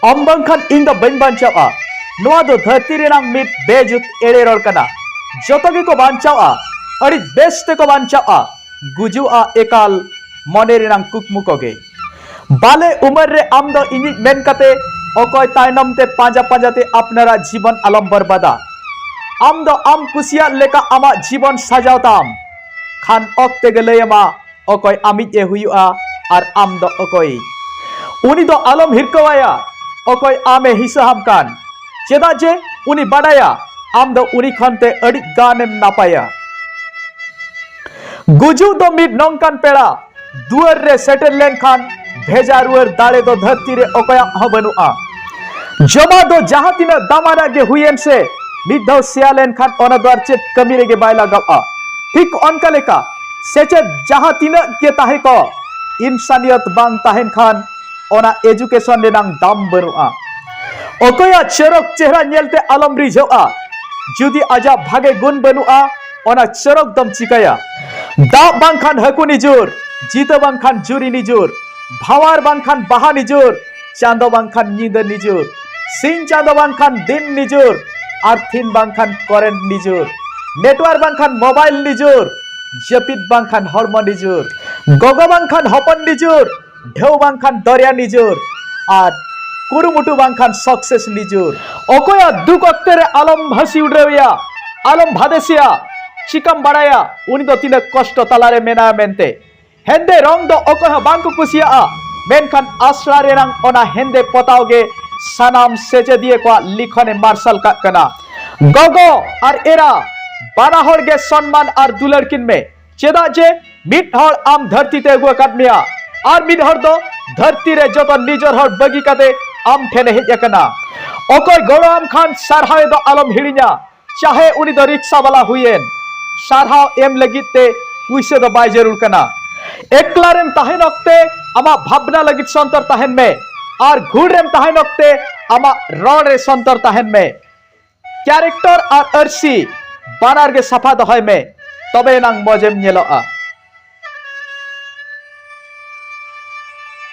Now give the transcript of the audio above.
ᱟᱢ ᱵᱟᱝᱠᱷᱟᱱ ᱤᱧ ᱫᱚ ᱵᱟᱹᱧ ᱵᱟᱧᱪᱟᱣᱟ ᱱᱚᱣᱟ ᱫᱚ ᱫᱷᱟᱹᱨᱛᱤ ᱨᱮᱱᱟᱜ ᱢᱤᱫ ᱵᱮᱡᱩᱛ ᱮᱲᱮ ᱨᱚᱲ ᱠᱟᱱᱟ ᱡᱚᱛᱚ ᱜᱮᱠᱚ ᱵᱟᱧᱪᱟᱣᱟ ᱟᱹᱰᱤ ᱵᱮᱥ ᱛᱮᱠᱚ ᱵᱟᱧᱪᱟᱣᱟ ᱜᱩᱡᱩᱜᱼᱟ ᱮᱠᱟᱞ ᱢᱚᱱᱮ ᱨᱮᱱᱟᱜ ᱠᱩᱠᱢᱩ ᱠᱚᱜᱮ ᱵᱟᱞᱮ ᱩᱢᱮᱨ ᱨᱮ ᱟᱢ ᱫᱚ ᱤᱧᱤᱡ ᱢᱮᱱ ᱠᱟᱛᱮ ᱚᱠᱚᱭ ᱛᱟᱭᱱᱚᱢ ᱛᱮ ᱯᱟᱸᱡᱟ ᱯᱟᱸᱡᱟ ᱛᱮ ᱟᱯᱱᱟᱨᱟᱜ ᱡᱤᱵᱚᱱ ᱟᱞᱚᱢ ᱵᱚᱨᱵᱟᱫᱟ ᱟᱢ ᱫᱚ ᱟᱢ ᱠᱩᱥᱤᱭᱟᱜ ᱞᱮᱠᱟ ᱟᱢᱟᱜ ᱡᱤᱵᱚᱱ ᱥᱟᱡᱟᱣ ᱛᱟᱢ ᱠᱷᱟᱱ ᱚᱠᱛᱮ ᱜᱮ ᱞᱟᱹᱭ ᱟᱢᱟ ᱚᱠᱚᱭ ᱟᱢᱤᱡ ᱮ ᱦᱩᱭᱩᱜᱼᱟ ᱟᱨ ᱟᱢ ᱫᱚ ᱚᱠᱚᱭ ᱩᱱᱤ ᱫᱚ ᱟᱞᱚᱢ ᱦᱤᱨᱠᱟᱹᱣᱟᱭᱟ ᱚᱠᱚᱭ ᱟᱢᱮ ᱦᱤᱥᱟᱹᱦᱟᱢ ᱠᱟᱱ ᱪᱮᱫᱟᱜ ᱡᱮ ᱩᱱᱤ ᱵᱟᱰᱟᱭᱟ ᱟᱢ ᱫᱚ ᱩᱱᱤ ᱠᱷᱚᱱ ᱛᱮ ᱟᱹᱰᱤ ᱜᱟᱱᱮᱢ ᱱᱟᱯᱟᱭᱟ ᱜᱩᱡᱩᱜ ᱫᱚ ᱢᱤᱫ ᱱᱚᱝᱠᱟᱱ ᱯᱮᱲᱟ ᱫᱩᱣᱟᱹᱨ ᱨᱮ ᱥᱮᱴᱮᱨ ᱞᱮᱱᱠᱷᱟᱱ ᱵᱷᱮᱡᱟ ᱨᱩᱣᱟᱹᱲ ᱫᱟᱲᱮ ᱫᱚ ᱫᱷᱟᱹᱨᱛᱤ ᱨᱮ ᱚᱠᱚᱭᱟᱜ ᱦᱚᱸ ᱵᱟᱹᱱᱩᱜᱼᱟ ᱡᱚᱢᱟ ᱫᱚ ᱡᱟᱦᱟᱸ ᱛᱤᱱᱟᱹᱜ ᱫᱟᱢᱟᱱᱟᱜ ᱜᱮ ᱦᱩᱭᱮᱱ ᱥᱮ ᱢᱤᱫ ᱫᱷᱟᱣ ᱥᱮᱭᱟ ᱞᱮᱱᱠᱷᱟᱱ ᱚᱱᱟ ᱫᱚ ᱟᱨ ᱪᱮᱫ ᱠᱟᱹᱢᱤ ᱨᱮᱜᱮ ᱵᱟᱭ ᱞᱟᱜᱟᱜᱼᱟ ᱴᱷᱤᱠ ᱚᱱᱠᱟ ᱞᱮᱠᱟ ᱥᱮᱪᱮᱫ ᱡᱟᱦᱟᱸ ᱛᱤᱱᱟᱹᱜ ᱜᱮ ᱛᱟᱦᱮᱸ ᱠᱚ ᱤᱱᱥᱟᱱᱤᱭᱚᱛ ᱵᱟᱝ ᱛᱟᱦᱮᱱ ᱠᱷᱟᱱ ᱚᱱᱟ ᱮᱡᱩᱠᱮᱥᱚᱱ ᱨᱮᱱᱟᱝ ᱫᱟᱢ ᱵᱟᱹᱱᱩᱜᱼᱟ ᱚᱠᱚᱭᱟᱜ ᱪᱚᱨᱚᱠ ᱪᱮᱦᱨᱟ ᱧᱮᱞᱛᱮ ᱟᱞᱚᱢ ᱨᱤᱡᱷᱟᱹᱜᱼᱟ ᱡᱩᱫᱤ ᱟᱡᱟᱜ ᱵᱷᱟᱜᱮ ᱜᱩᱱ ᱵᱟᱹᱱᱩᱜᱼᱟ ᱚᱱᱟ ᱪᱚᱨᱚᱠ ᱫᱚᱢ ᱪᱤᱠᱟᱹᱭᱟ ᱫᱟᱜ ᱵᱟᱝᱠᱷᱟᱱ ᱦᱟᱹᱠᱩ ᱱᱤᱡᱩᱨ ᱡᱤᱛᱟᱹ ᱵᱟᱝᱠᱷᱟᱱ ᱡᱩᱨᱤ ᱱᱤᱡᱩᱨ ᱵᱷᱟᱣᱟᱨ ᱵᱟᱝᱠᱷᱟᱱ ᱵᱟᱦᱟ ᱱᱤᱡᱩᱨ ᱪᱟᱸᱫᱚ ᱵᱟᱝᱠᱷᱟᱱ ᱧᱤᱫᱟᱹ ᱱᱤᱡᱩᱨ ᱥᱤᱧ ᱪᱟᱸᱫᱚ ᱵᱟᱝᱠᱷᱟᱱ ᱫᱤᱱ ᱱᱤᱡᱩᱨ ᱟᱨᱛᱷᱤᱱ ᱵᱟᱝᱠᱷᱟᱱ ᱠᱚᱨᱮᱱᱴ ᱱᱤᱡᱩᱨ ᱱᱮᱴᱣᱟᱨᱠ ᱵᱟᱝᱠᱷᱟᱱ ᱢᱳᱵᱟᱭᱤᱞ ᱱᱤᱡᱩᱨ ᱡᱟᱹᱯᱤᱫ ᱵᱟᱝᱠᱷᱟᱱ ᱦᱚᱲᱢᱚ ᱱᱤᱡᱩᱨ ᱜᱚᱜᱚ ᱵᱟᱝᱠᱷᱟᱱ ᱦᱚᱯᱚᱱ ᱱᱤᱡᱩᱨ ᱰᱷᱮᱣ ᱵᱟᱝᱠᱷᱟᱱ ᱫᱚᱨᱭᱟ ᱱᱤᱡᱩᱨ ᱟᱨ ᱠᱩᱨᱩᱢᱩᱴᱩ ᱵᱟᱝᱠᱷᱟᱱ ᱥᱚᱠᱥᱮᱥ ᱱᱤᱡᱩᱨ ᱚᱠᱚᱭᱟᱜ ᱫᱩᱠ ᱚᱠᱛᱮ ᱨᱮ ᱟᱞᱚᱢ ᱦᱟᱹᱥᱤ ᱩᱰᱟᱹᱣᱮᱭᱟ ᱟᱞᱚᱢ ᱵᱷᱟᱫᱮᱥᱮᱭᱟ ᱪᱤᱠᱟᱢ ᱵᱟᱲᱟᱭᱟ ᱩᱱᱤ ᱫᱚ ᱛᱤᱱᱟᱹᱜ ᱠᱚᱥᱴᱚ ᱛᱟᱞᱟᱨᱮ ᱢᱮᱱᱟᱭᱟ ᱢᱮᱱᱛᱮ ᱦᱮᱸᱫᱮ ᱨᱚᱝ ᱫᱚ ᱚᱠᱚᱭ ᱦᱚᱸ ᱵᱟᱝ ᱠᱚ ᱠᱩᱥᱤᱭᱟᱜᱼᱟ ᱢᱮᱱᱠᱷᱟᱱ ᱟᱥᱲᱟ ᱨᱮᱱᱟᱝ ᱚᱱᱟ ᱦᱮᱸᱫᱮ ᱯᱚᱛᱟᱣ ᱜᱮ ᱥᱟᱱᱟᱢ ᱥᱮᱪᱮᱫᱤᱭᱟᱹ ᱠᱚᱣᱟᱜ ᱞᱤᱠᱷᱚᱱᱮ ᱢᱟᱨᱥᱟᱞ ᱠᱟᱜ ᱠᱟᱱᱟ ᱜᱚᱜᱚ ᱟᱨ ᱮᱨᱟ ᱵᱟᱱᱟ ᱦᱚᱲ ᱜᱮ ᱥᱚᱱᱢᱟᱱ ᱟᱨ ᱫᱩᱞᱟᱹᱲ ᱠᱤᱱ ᱢᱮ ᱪᱮᱫᱟᱜ ᱡᱮ ᱢᱤᱫ ᱦᱚᱲ ᱟᱢ ᱫᱷᱟᱹᱨᱛᱤ ᱛᱮ ᱟᱹᱜᱩ ᱟᱠᱟᱫ ᱢᱮᱭᱟ ᱟᱨ ᱢᱤᱫ ᱦᱚᱲ ᱫᱚ ᱫᱷᱟᱹᱨᱛᱤ ᱨᱮ ᱡᱚᱛᱚ ᱱᱤᱡᱚᱨ ᱦᱚᱲ ᱵᱟᱹᱜᱤ ᱠᱟᱛᱮ ᱟᱢ ᱴᱷᱮᱱᱮ ᱦᱮᱡ ᱟᱠᱟᱱᱟ ᱚᱠᱚᱭ ᱜᱚᱲᱚ ᱟᱢ ᱠᱷᱟᱱ ᱥᱟᱨᱦᱟᱣ ᱫᱚ ᱟᱞᱚᱢ ᱦᱤᱲᱤᱧᱟ ᱪᱟᱦᱮ ᱩᱱᱤ ᱫᱚ ᱨᱤᱠᱥᱟ ᱵᱟᱞᱟ ᱦᱩᱭᱮᱱ ᱥᱟᱨᱦᱟᱣ ᱮᱢ ᱞᱟᱹᱜᱤᱫ ᱛᱮ ᱯᱩᱭᱥᱟᱹ ᱫᱚ ᱵᱟᱭ ᱡᱟᱹᱨᱩᱲ ᱠᱟᱱᱟ ᱮᱠᱞᱟ ᱨᱮᱢ ᱛᱟᱦᱮᱱ ᱚᱠᱛᱮ ᱟᱢᱟᱜ ᱵᱷᱟᱵᱽᱱᱟ ᱞᱟᱹᱜᱤᱫ ᱥᱚᱱᱛᱚᱨ ᱛᱟᱦᱮᱱ ᱢᱮ ᱟᱨ ᱜᱷᱩᱲ ᱨᱮᱢ ᱛᱟᱦᱮᱱ ᱚᱠᱛᱮ ᱟᱢᱟᱜ ᱨᱚᱲ ᱨᱮ ᱥᱚᱱᱛᱚᱨ ᱛᱟᱦᱮᱱ ᱢᱮ ᱠᱮᱨᱮᱠᱴᱚᱨ ᱟᱨ ᱟᱹᱨᱥᱤ ᱵᱟᱱᱟᱨ ᱜᱮ ᱥᱟᱯᱷᱟ ᱫᱚᱦᱚᱭ ᱢᱮ ᱛᱚᱵᱮ ᱮᱱᱟᱝ ᱢᱚᱡᱮᱢ ᱧᱮᱞᱚᱜᱼᱟ